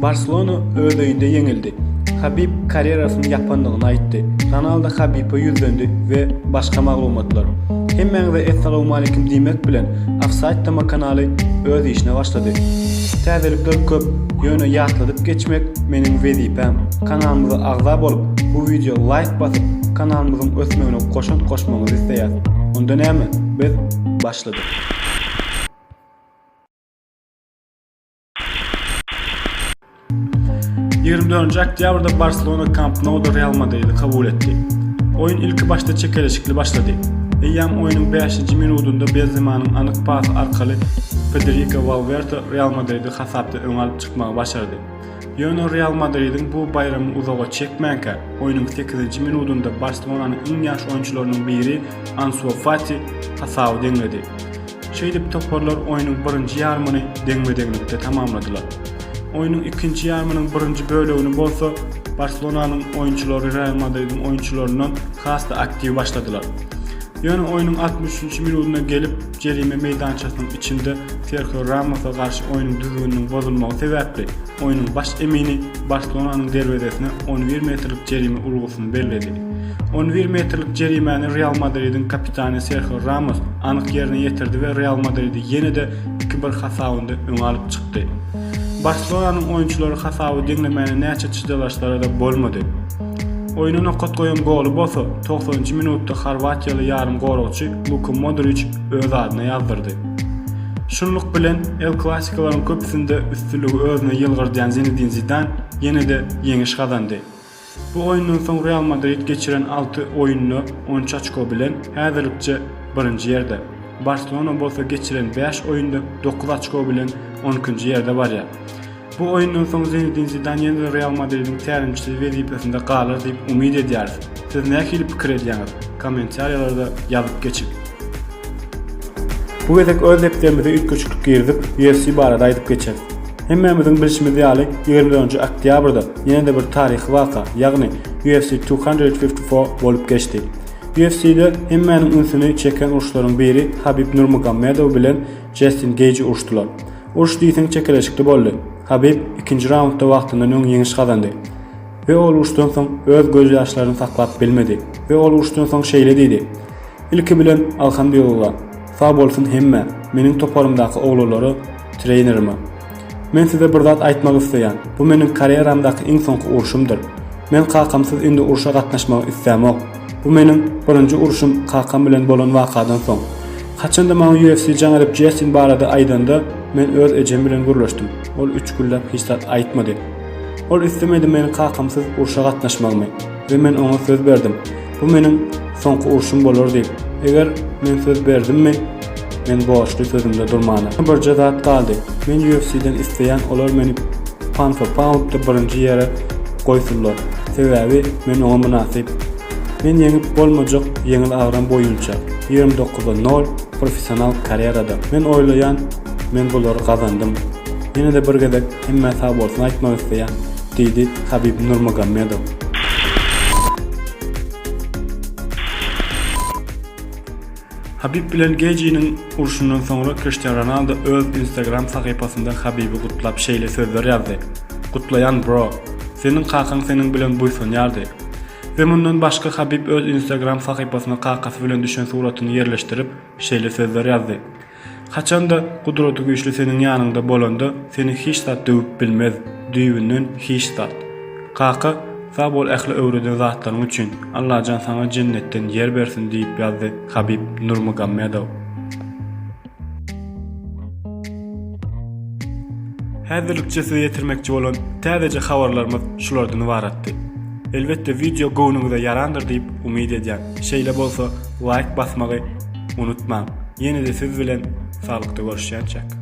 Barselona öz öýünde ýeňildi. Habib karýerasyny ýapandygyny aýtdy. Ronaldo Habibe ýüzlendi we başga maglumatlar. Hemmäňize essalawmalikim diýmek bilen, Ofsaýd tema kanaly öz işine başlady. Täzelikler köp, ýöne ýatladyp geçmek meniň wezipäm. Kanalymyza agza bolup, bu wideo laýk basyp, kanalymyzyň ösmegine goşant goşmagyňyzy isleýäs. Onda näme, biz başladyk. Ýigrimi dördünji oktýabrda Barselona Kamp Nouda Real Madridi kabul etdi. Oýun ilkibaşda çekeleşikli başlady. Eýýäm oýnuň bäşinji minudynda Benzemanyň anyk pasy arkaly Federiko Walwerte Real Madridi hasapda öňe alyp çykmagy başardy. Ýöne Real Madridiň bu baýramy uzaga çekmänkä, oýnuň sekizinji minudynda Barselonanyň iň ýaş oýunçylarynyň biri Ansu Fati hasaby deňledi. Şeýdip, toparlar oýnuň birinji ýarymyny deňme-deňlikde tamamladylar. Oýnuň ikinji ýarymynyň birinji bölegini bolsa Barselonanyň oýunçylary Real Madridiň oýunçylaryndan has-da aktiw başladylar. Ýöne oýnuň altmyş üçünji minudyna gelip, jerime meýdançasynyň içinde Serhio Ramosa garşy oýnuň düzgüniniň bozulmagy sebäpli, Oýnuň baş emini Barselonanyň derwezesine on bir metrlik jerime urgusyny belledi. On bir metrlik jerimäni Real Madridiň kapitany Serhio Ramos anyk ýerine ýetirdi we Real Madridi ýene-de iki bir hasabynda öňe alyp çykdy. Barselonanyň oýunçylary hasaby deňlemäne näçe çydalaşsalar-da bolmady. Oýna nokat goýan goly bolsa togsanynjy minutda horwatiýaly ýarymgoragçy Luka Modriç öz adyna ýazdyrdy. Şunluk bilen, El Klassikolaryň köpüsinde üstünligi özüne ýylgyrdýan Zinedin Zidan ýene-de ýeňiş gazandy. Bu oýundan soň Real Madrid geçiren alty oýunda on üç oçko bilen häzirlikçe birinji ýerde, Barselona bolsa geçiren bäş oýunda dokuz oçko bilen on ikinji ýerde barýar. Bu oýundan soň Zinedin Zidan ýene-de Real Madridiň tälimçisi wezipesinde galar diýip umyt edýäris. Siz nähili pikir edýäňiz? Kommentariýalarda ýazyp geçiň! Bu gezek öz depderimize üýtgeşiklik girizip, UFC barada aýdyp geçeris. Hemmämiziň bilşimiz ýaly, ýigrimi dördünji oktýabrda ýene-de bir taryhy waka, ýagny UFC Two Hundred Fifty Four bolup geçdi. UFC-de hemmäniň ünsüni çeken uruşlaryň biri Habib Nurmagomedow bilen Jastin Geýji uruşdylar. Uruş diýseň çekeleşikli boldy. Habib ikinji raundda wagtyndan öň ýeňiş gazandy. We ol uruşdan soň öz göz ýaşlaryny saklap bilmedi we ol uruşdan soň şeýle diýdi, Ilki bilen Alhamdulillah, sag bolsun hemmä, meniň toparymdaky oglanlara, treýnerime. Men size bir zat aýtmak isleýän, bu meniň karýeramdaky iň soňky urşumdyr. Men kakamsyz indi urşa gatnaşmagy islämok. Bu meniň birinji urşum kakam bilen bolan wakadan soň. Haçanda maňa UFC jaň edip Jestin barada aýdanda, men öz ejem bilen gürleşdim. Ol üç günläp hiç zat aýtmady. Ol islemedi meniň kakamsyz urşa gatnaşmagymy we men oňa söz berdim. Bu meniň soňky urşum bolar diýip. Eger men söz berdimmi? Men borçly sözümde durmana. Birje zat galdy. Men UFC-den isleýän olar meni Panfa Poundda birinji ýere goýsunlar. Sebäbi men oňa mynasyp. Men ýeňip bolmajak ýeňil agram boýunça, ýigrimi dokuza nol professional karerada. Men oýlaýan men bulary gazandym. Ýene-de bir gezek hemmä sagbolsun aýtmak isleýän, diýdi Habib Nurmagomedow. Habib bilen Gejiniň urşundan soňra Kriştian Ronaldo öz Instagram sahypasynda Habibi gutlap şeýle sözler ýazdy, Gutlaýan bro! Seniň kakaň seniň bilen buýsanýardy! We mundan başga Habib öz Instagram sahypasyna kakasy bilen düşen suratyny ýerleşdirip, şeýle sözler ýazdy, Haçanda Gudratygüýçli seniň ýanyňda bolanda seni hiç zat döwüp bilmez, düýbünden hiç zat. Kaka, sag bol ähli öwreden zatlaryň üçin, Allajan saňa jennetden ýer bersin diýip ýazdy Habib Nurmugammedow. Häzirlikçe size ýetirmekçi bolan täzeje habarlarymyz şulardan ybaratdy. Elbetde wideo göwnüňize ýarandyr diýip umyt edýän. Şeýle bolsa laýk basmagy, Unutmaň, ýene-de siz bilen saglykda görüşýänçäk!